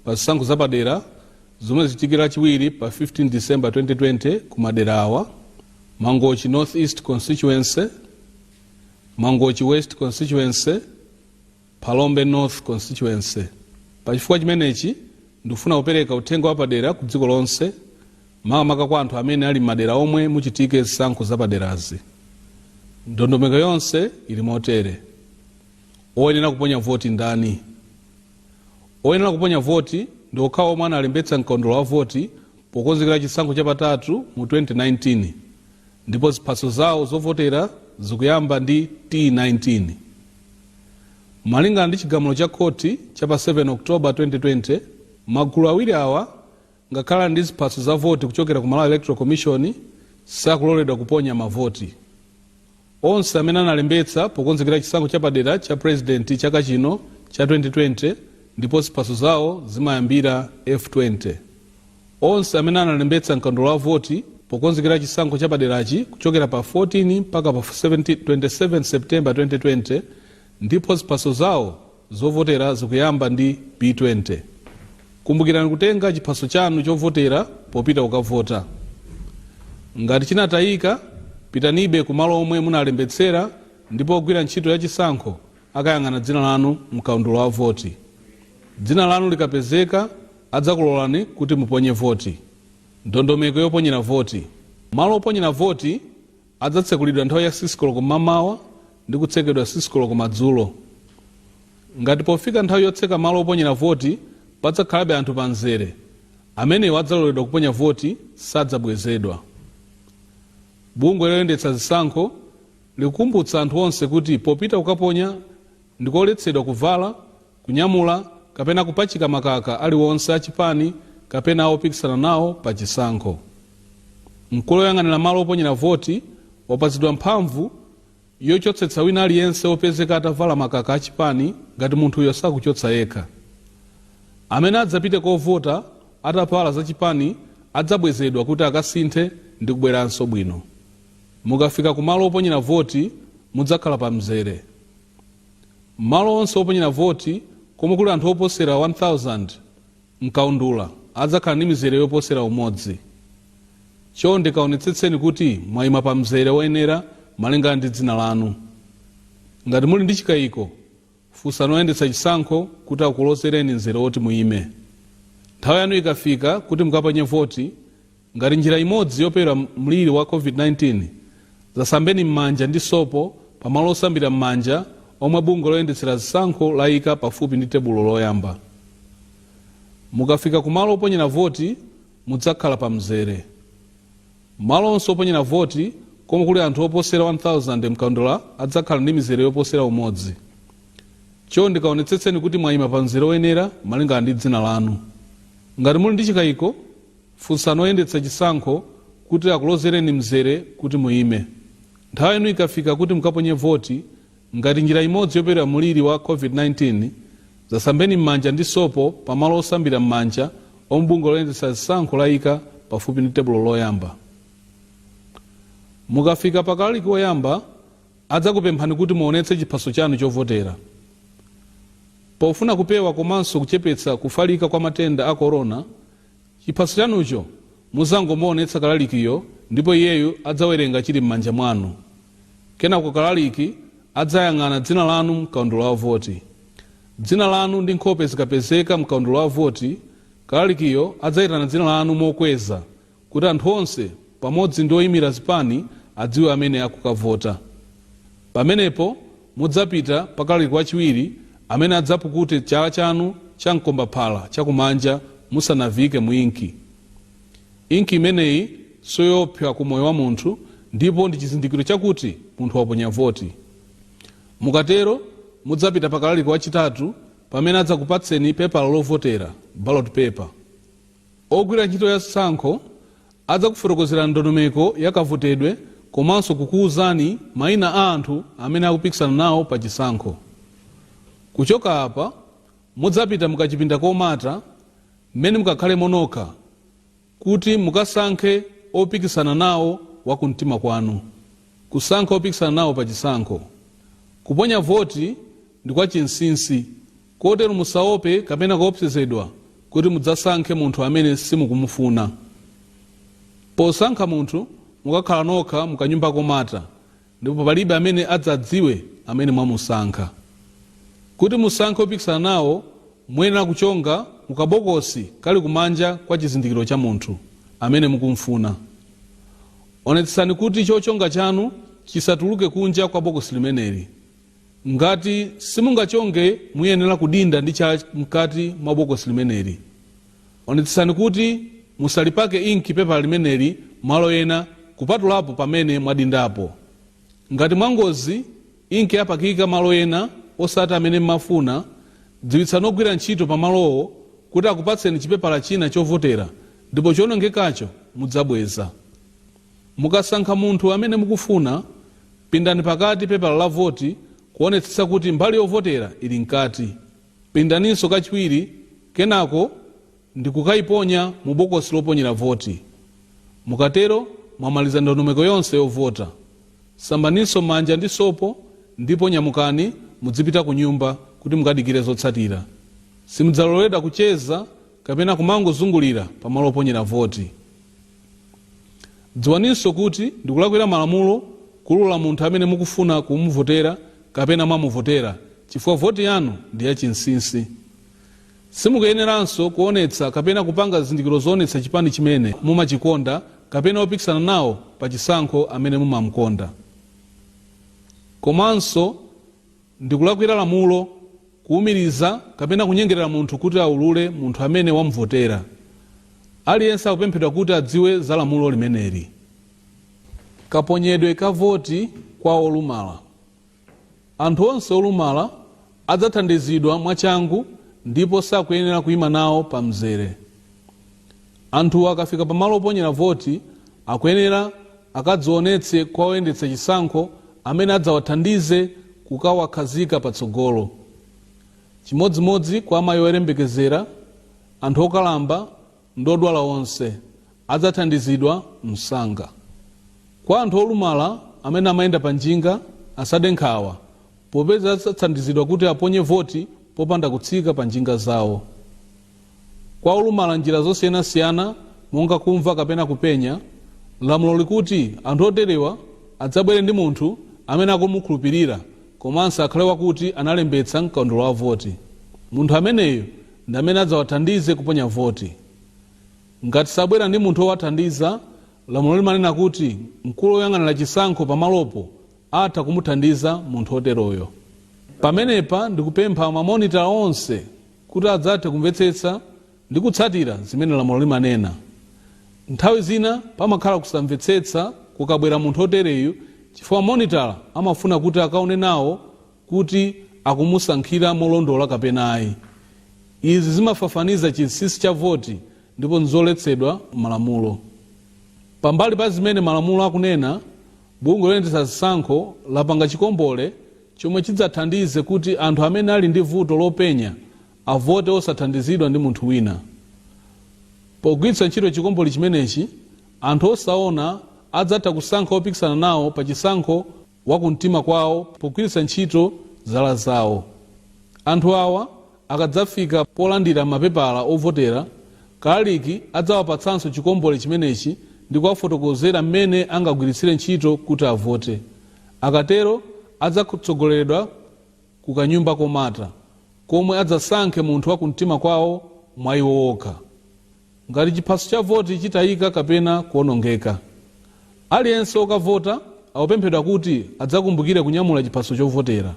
pa zisankho zapadera zomwe zichitike lachiwiri pa 15 December 2020 ku madera awa, Mangochi North East Constituency, Mangochi West Constituency, Phalombe North Constituency. Pa chifukwa chimenechi ndikufuna kupereka uthenga wapadera ku dziko lonse makamaka kwa anthu amene ali m'madera omwe muchitike zisankho zapaderazi. Ndondomeko yonse ili motere. Oyenera kuponya voti ndani? Oyenera kuponya voti ndi okhawo omwe analembetsa m'kaundula wa voti pokonzekera chisankho chapatatu mu 2019 ndipo ziphaso zawo zovotera zikuyamba ndi T19. Malingana ndi chigamulo cha khoti cha pa 7 October 2020, magulu awiri awa, Ngakhale ali ndi ziphaso za voti kuchokera ku Malawi Electoral Commission sakuloledwa kuponya mavoti. Onse amene analembetsa pokonzekera chisankho chapadera cha Purezidenti chaka chino cha 2020 ndipo ziphaso zawo zimayambira F20. Onse amene analembetsa m'kaundula wa voti pokonzekera chisankho chapaderachi kuchokera pa 14 mpaka pa 27 September 2020 ndipo ziphaso zawo Zovotera zikuyamba ndi B20. Kumbukirani kutenga chiphaso chanu chovotera popita kukavota. Ngati chinatayika, pitanibe kumalo omwe munalembetsera ndipo ogwira ntchito ya chisankho akayang'ana dzina lanu m'kaundula wa voti. Dzina lanu likapezeka, adzakulolani kuti muponye voti. Ndondomeko yoponyera voti. Malo oponyera voti. Adzatsekulidwa nthawi ya 6 koloko mmamawa ndi kutsekedwa 6 koloko madzulo. Ngati pofika nthawi yotseka malo oponyera voti padzakhalabe anthu pa mzere, amenewo adzaloledwa kuponya voti, sadzabwezedwa. Bungwe loyendetsa zisankho likukumbutsa anthu onse kuti popita kukaponya ndikoletsedwa kuvala, kunyamula kapena kupachika makaka aliwonse a chipani kapena a opikisana nawo pa chisankho. Mkulu oyang'anira malo oponyera voti wapatsidwa mphamvu yochotsetsa wina aliyense opezeka atavala makaka a chipani ngati munthuyo sakuchotsa yekha. Amene adzapite kovota atavala za chipani adzabwezedwa kuti akasinthe ndi kubweranso bwino. Mukafika ku malo oponyera voti mudzakhala pa mzere. Malo onse oponyera voti komwe kuli anthu oposera 1000 m'kaundula adzakhala ndi mizere yoposera umodzi. Chonde kaonetsetseni kuti mwaima pa mzere oyenera malingana ndi dzina lanu. Ngati muli ndi chikaiko, funsani oyendetsa chisankho kuti akulozereni mzere oti muime. Nthawi yanu ikafika kuti mukaponye voti, Ngati njira imodzi yopewera mliri wa COVID-19, zasambeni m'manja ndi sopo pamalo osambira m'manja omwe bungwe loyendetsera zisankho layika pafupi ndi tebulo loyamba. Mukafika kumalo oponyera voti, mudzakhala pamzere. Malo onse oponyera voti komwe kuli anthu oposera 1,000 mkaundula adzakhala ndi mizere yoposera umodzi. Chonde kaonetsetseni kuti mwayima pamzere woyenera malingana ndi dzina lanu. Ngati muli ndi chikayiko, Funsani oyendetsa chisankho kuti akulozereni mzere kuti muime. Nthawi yanu ikafika kuti mukaponye voti, ngati njira imodzi yopewera mliri wa COVID-19, zasambeni m'manja ndi sopo pa malo osambira m'manja omwe bungwe loyendetsa zisankho layika pafupi ndi tebulo loyamba. Mukafika pa kalaliki woyamba, adzakupemphani kuti muonetse chiphaso chanu chovotera. Pofuna kupewa komanso kuchepetsa kufalika kwa matenda a Corona, chiphaso chanucho muzangomuonetsa kalalikiyo ndipo iyeyo adzawerenga chili m'manja mwanu. Kenako kalaliki adzayang'ana dzina lanu m'kaundula wa voti. Dzina lanu ndi nkhope zikapezeka m'kaundula wa voti, kalalikiyo adzaitana dzina lanu mokweza kuti anthu onse pamodzi ndi oimira zipani adziwe amene akukavota. Pamenepo. Mudzapita pa kalaliki wachiwiri amene adzapukute chala chanu cha mkombaphala chakumanja musanaviike mu inki. Inki imeneyi siyoopsa ku moyo wa munthu ndipo ndi chizindikiro chakuti munthu waponya voti. Mukatero mudzapita pa kalaliki wachitatu pamene adzakupatseni pepala lovotera, ballot paper. Ogwira ntchito ya zisankho adzakufotokozerani ndondomeko ya kavotedwe komanso kukuuzani maina a anthu amene akupikisana nawo pa chisankho. Kuchoka apa, mudzapita mu kachipinda komata mmene mukakhalemo nokha kuti mukasankhe opikisana nawo wa kumtima kwanu. Kusankha opikisana nawo pa chisankho. Kuponya voti ndi kwa chinsinsi. Kotero musaope kapena kuopsezedwa kuti mudzasankhe munthu amene simukumufuna. Posankha munthu, mukakhala nokha mu kanyumba komata ndipo palibe amene adzadziwe amene mwamusankha. Kuti musankhe opikisana nawo, muyenera kuchonga mu kabokosi kali kumanja kwa chizindikiro cha munthu amene mukumfuna. Onetsetsani kuti chochonga chanu chisatuluke kunja kwa bokosi limeneli. Ngati simungachonge muyenera kudinda ndi chala mkati mwa bokosi limeneli. Onetsetsani kuti musalipake inki pepala limeneli malo ena kupatulapo pamene mwadindapo. Ngati mwangozi inki yapakika malo ena osati amene m'mafuna, dziwitsani ogwira ntchito pamalowo kuti akupatseni chipepala china chovotera ndipo choonongekacho mudzabweza. Mukasankha munthu amene mukufuna, pindani pakati pepala la voti kuonetsetsa kuti mbali yovotera ili mkati. Pindaninso kachiwiri kenako ndi kukaiponya mu bokosi loponyera voti. Mukatero mwamaliza ndondomeko yonse yovota. Sambaninso m'manja ndi sopo ndipo nyamukani mudzipita kunyumba kuti mukadikire zotsatira. Simudzaloledwa kucheza kapena kumangozungulira pamalo oponyera voti. Dziwaninso kuti ndikulakwira malamulo kuulula munthu amene mukufuna kumuvotera kapena mwamuvotera chifukwa voti yanu ndi ya chinsinsi. Simukuyeneranso kuonetsa kapena kupanga zizindikiro zoonetsa chipani chimene mumachikonda kapena opikisana nawo pa chisankho amene mumamukonda. Komanso. Ndi kulakwira lamulo kuumiriza kapena kunyengerera munthu kuti aulule munthu amene wamuvotera. Aliyense akupemphedwa kuti adziwe za lamulo limeneli. Kaponyedwe ka voti kwa olumala Anthu onse olumala adzathandizidwa mwachangu ndipo sakuyenera kuima nawo pa mzere. Anthuwa akafika pa malo oponyera voti akuyenera akadzionetse kwa oyendetsa chisankho amene adzawathandize kukawakhazika patsogolo. Chimodzimodzi kwa amayi oyembekezera, anthu okalamba ndi odwala onse adzathandizidwa msanga. Kwa anthu olumala amene amayenda pa njinga asade nkhawa popeza adzathandizidwa kuti aponye voti popanda kutsika pa njinga zawo. Kwa olumala njira zosiyanasiyana monga kumva kapena kupenya, lamulo likuti anthu oterewa adzabwere ndi munthu amene akumukhulupirira komanso akhale wakuti analembetsa m'kaundula wa voti. Munthu ameneyo ndi amene adzawathandize kuponya voti. Ngati sabwera ndi munthu owathandiza, lamulo limanena kuti mkulu oyang'anira chisankho pamalopo atha kumuthandiza munthu oteroyo. Pamenepa ndikupempha mamonitala onse. Kuti adzathe kumvetsetsa ndi kutsatira zimene lamulo limanena. Nthawi zina pamakhala kusamvetsetsa kukabwera munthu otereyu chifukwa monitala amafuna kuti akaone nawo kuti akumusankhira molondola kapena ayi. Izi zimafafaniza chinsinsi cha voti ndipo nzoletsedwa m'malamulo. Pambali pa zimene malamulo akunena, bungwe loyendetsa zisankho lapanga chikombole chomwe chidzathandize kuti anthu amene ali ndi vuto lopenya avote osathandizidwa ndi munthu wina. Pogwiritsa ntchito chikombole chimenechi, anthu osaona adzatha kusankha opikisana nawo pa chisankho wa kumtima kwawo pogwiritsa ntchito zala zawo. Anthu awa akadzafika polandira mapepala ovotera, kalaliki adzawapatsanso chikombole chimenechi ndi kuwafotokozera mmene angagwiritsire ntchito kuti avote. Akatero adzatsogoleredwa ku kanyumba komata, komwe adzasankhe munthu wa kumtima kwawo mwa iwo okha. Ngati chiphaso cha voti chitayika kapena kuonongeka, aliyense wokavota akupemphedwa kuti adzakumbukire kunyamula chiphaso chovotera.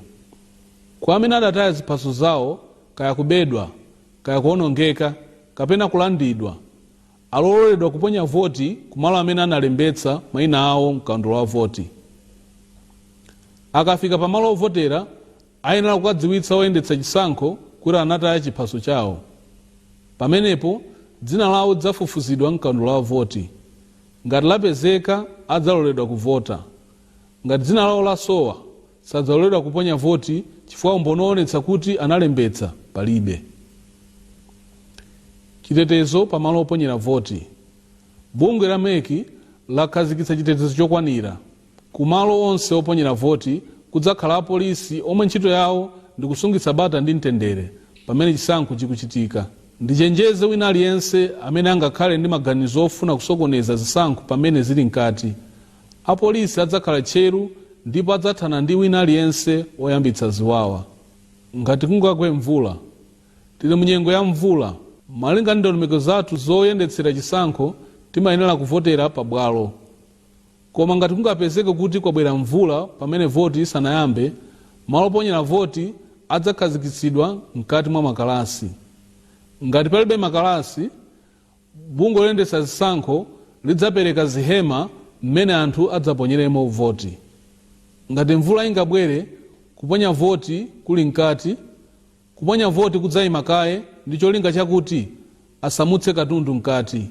Kwa amene adataya ziphaso zawo kaya kubedwa, kaya kuonongeka, kapena kulandidwa, Aloledwa kuponya voti ku malo amene analembetsa maina awo m'kaundula wa voti. Akafika pa malo ovotera, ayenera kukadziwitsa oyendetsa chisankho kuti anataya chiphaso chawo. Pamenepo, dzina lawo lidzafufuzidwa m'kaundula wa voti. Ngati lapezeka, adzaloledwa kuvota. Ngati dzina lawo lasowa, sadzaloledwa kuponya voti chifukwa umboni owonetsa kuti analembetsa palibe. Chitetezo pa malo oponyera voti Bungwe la MEC lakhazikitsa chitetezo chokwanira ku malo onse oponyera voti Kudzakhala apolisi omwe ntchito yawo ndi kusungitsa bata ndi mtendere pamene chisankho chikuchitika Ndichenjeze wina aliyense amene angakhale ndi maganizo ofuna kusokoneza zisankho pamene zili mkati Apolisi adzakhala tcheru ndipo adzathana ndi wina aliyense woyambitsa ziwawa. Ngati kungagwe mvula. Tili mu nyengo ya mvula. Malinga ndi ndondomeko zathu zoyendetsera chisankho, timayenera kuvotera pabwalo. Koma ngati kungapezeke kuti kwabwera mvula pamene voti isanayambe, malo oponyera voti adzakhazikitsidwa mkati mwa makalasi. Ngati palibe makalasi, Bungwe loyendetsa zisankho lidzapereka zihema mmene anthu adzaponyeremo voti. Ngati mvula ingabwere, kuponya voti kuli mkati, kuponya voti kudzaima kaye ndi cholinga chakuti asamutse katundu mkati.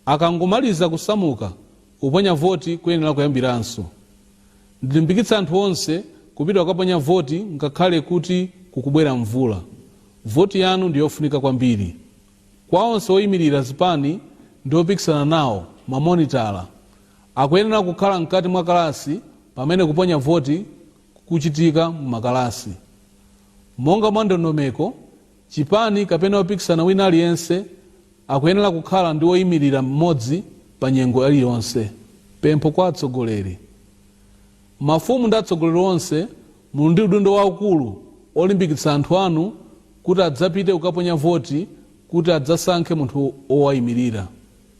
Akangomaliza kusamuka, kuponya voti kuyenera kuyambiranso. Ndilimbikitsa anthu onse kupita kukaponya voti ngakhale kuti kukubwera mvula. Voti yanu ndi yofunika kwambiri. Kwa onse oyimirira zipani ndi opikisana nawo, mamonitala akuyenera kukhala mkati mwa kalasi pamene kuponya voti kukuchitika mu makalasi. Monga mwa ndondomeko, chipani kapena opikisana wina aliyense akuyenera kukhala ndi oyimirira mmodzi pa nyengo iliyonse. Pempho kwa atsogoleri. Mafumu ndi atsogoleri onse Muli ndi udindo waukulu olimbikitsa anthu anu kuti adzapite kukaponya voti kuti adzasankhe munthu wowaimirira.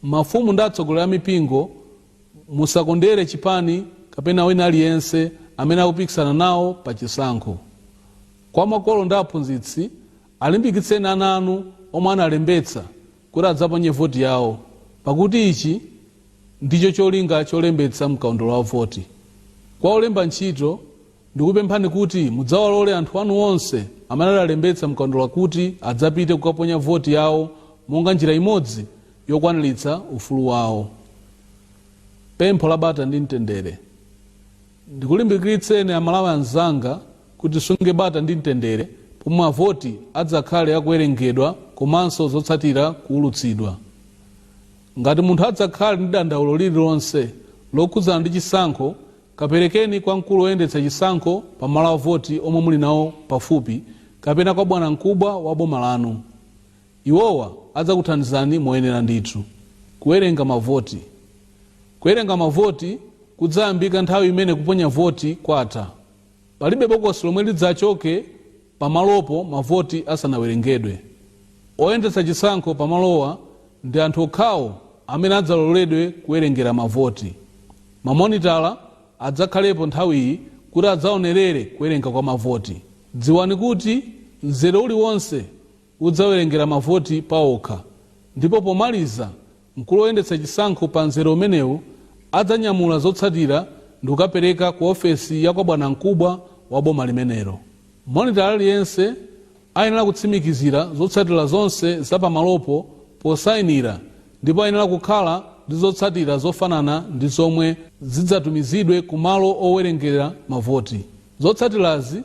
Mafumu ndi atsogoleri a mipingo musakondere chipani kapena wina aliyense amene akupikisana nawo pa chisankho. Kwa makolo ndi aphunzitsi, alimbikitseni ana anu omwe analembetsa kuti adzaponye voti yawo pakuti ichi ndicho cholinga cholembetsa mkaundula wa voti. Kwa olemba ntchito, ndikupemphani kuti mudzawalole anthu anu onse amene adalembetsa mkaundula kuti adzapite kukaponya voti yawo monga njira imodzi yokwaniritsa ufulu wawo. Pempho la Bata ndi Mtendere. Ndikulimbikitseninso amalawi anzanga kuti tisunge bata ndi mtendere pomwe mavoti adzakhale akuwerengedwa komanso zotsatira kuwulutsidwa. Ngati munthu adzakhale ndi dandaulo lililonse lokhudzana ndi chisankho kaperekeni kwa mkulu woyendetsa chisankho pa malo avoti omwe muli nawo pafupi kapena kwa bwanankubwa wa boma lanu. Iwowa adzakuthandizani moyenera ndithu. Kuwerenga mavoti. Kuwerenga mavoti kudzayambika nthawi imene kuponya voti kwatha. Palibe bokosi lomwe lidzachoke pamalopo mavoti asanawerengedwe. Oyendetsa chisankho pamalowa ndi anthu okhawo amene adzaloledwe kuwerengera mavoti. Mamonitala adzakhalepo nthawiyi kuti adzaonerere kuwerenga kwa mavoti. Dziwani kuti mzere uliwonse. udzawerengera mavoti paokha ndipo pomaliza mkulu woyendetsa chisankho pa mzere umenewu adzanyamula zotsatira ndikukapereka ku ofesi ya kwa bwanamkubwa wa boma limenelo. Monitala aliyense ayenera kutsimikizira zotsatira zonse za pamalopo posainira ndipo ayenera kukhala ndi zotsatira zofanana ndi zomwe zidzatumizidwe ku malo owerengera mavoti. Zotsatirazi.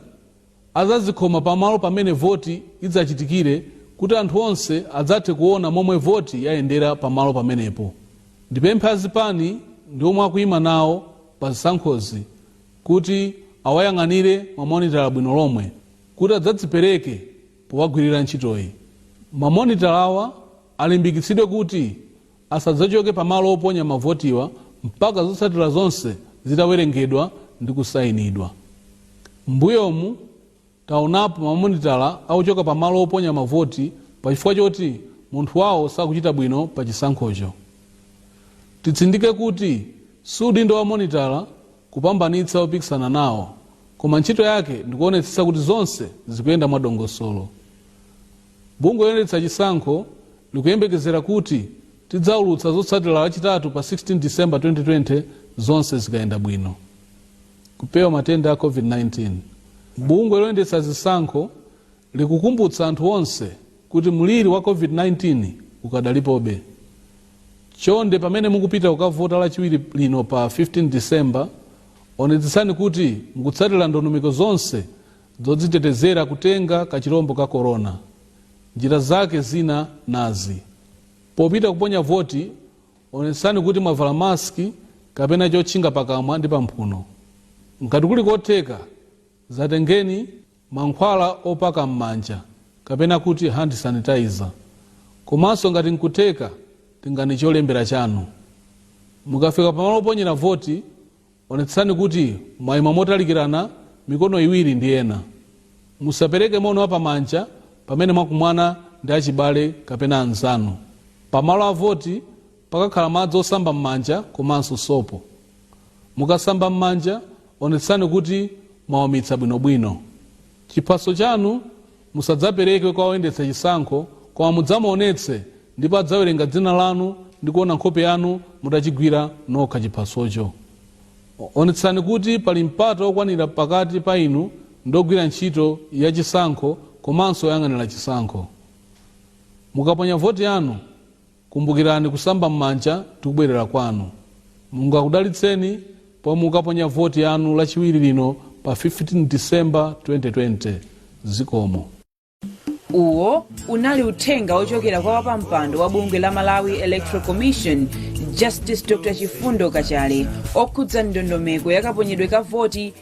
adzazikhoma pamalo pamene voti idzachitikire kuti anthu onse adzathe kuona momwe voti yayendera pamalo pamenepo. Ndipemphe azipani ndi omwe akuima nawo pa zisankhozi kuti awayang'anire mamonitala bwino lomwe kuti adzadzipereke powagwirira ntchitoyi. Mamonitalawa alimbikitsidwe kuti asadzachoke pa malo oponya mavotiwa mpaka zotsatira zonse zitawerengedwa ndi kusainidwa. M'mbuyomu taonapo mamonitala akuchoka pa malo oponya mavoti pa chifukwa choti munthu wawo sakuchita bwino pa chisankhocho. Titsindike kuti si udindo wa monitala kupambanitsa opikisana nawo koma ntchito yake ndikuonetsetsa kuti zonse zikuyenda mwa dongosolo. Bungwe loyendetsa chisankho likuyembekezera kuti tidzaulutsa zotsatira Lachitatu pa 16 December 2020 zonse zikayenda bwino. Kupewa matenda a Covid-19 Bungwe loyendetsa zisankho likukumbutsa anthu onse kuti mliri wa Covid-19 ukadalipobe. Chonde pamene mukupita kukavota Lachiwiri lino pa 15 December, onetsetsani kuti mukutsatira ndondomeko zonse Zodzitetezera kutenga kachilombo ka Corona, njira zake zina nazi, Popita kuponya voti, onetsani kuti mwavala mask kapena chotchinga pakamwa ndi pamphuno. Ngati kuli kotheka, dzatengeni mankhwala opaka m'manja kapena kuti hand sanitizer. Komanso ngati nkutheka tengani cholembera chanu. Mukafika pamalo oponyera voti, Onetsetsani kuti mwaima motalikirana mikono iwiri ndi ena. Musapereke moni wa pamanja pamene mwakumana ndi achibale kapena anzanu. Pa malo a voti pakakhala madzi osamba m'manja komanso sopo. Mukasamba m'manja onetsetsani kuti mwaumitsa bwinobwino. Chiphaso chanu Musadzapereke kwa oyendetsa chisankho, koma mudzamuonetse, ndipo adzawerenga dzina lanu ndi kuona nkhope yanu mutachigwira nokha chiphasocho. Onetsani kuti pali mpata okwanira pakati pa inu ndi ogwira ntchito ya chisankho komanso oyang'anira chisankho. Mukaponya voti yanu. Kumbukirani kusamba mmanja ndikubwerera kwanu. Mulungu akudalitseni pomwe mukaponya voti yanu lachiwiri lino pa 15 December 2020. Zikomo. Uwo unali uthenga wochokera kwa wapampando wa bungwe la Malawi Electoral Commission Justice Dr Chifundo Kachale okhudza ndondomeko yakaponyedwe ka voti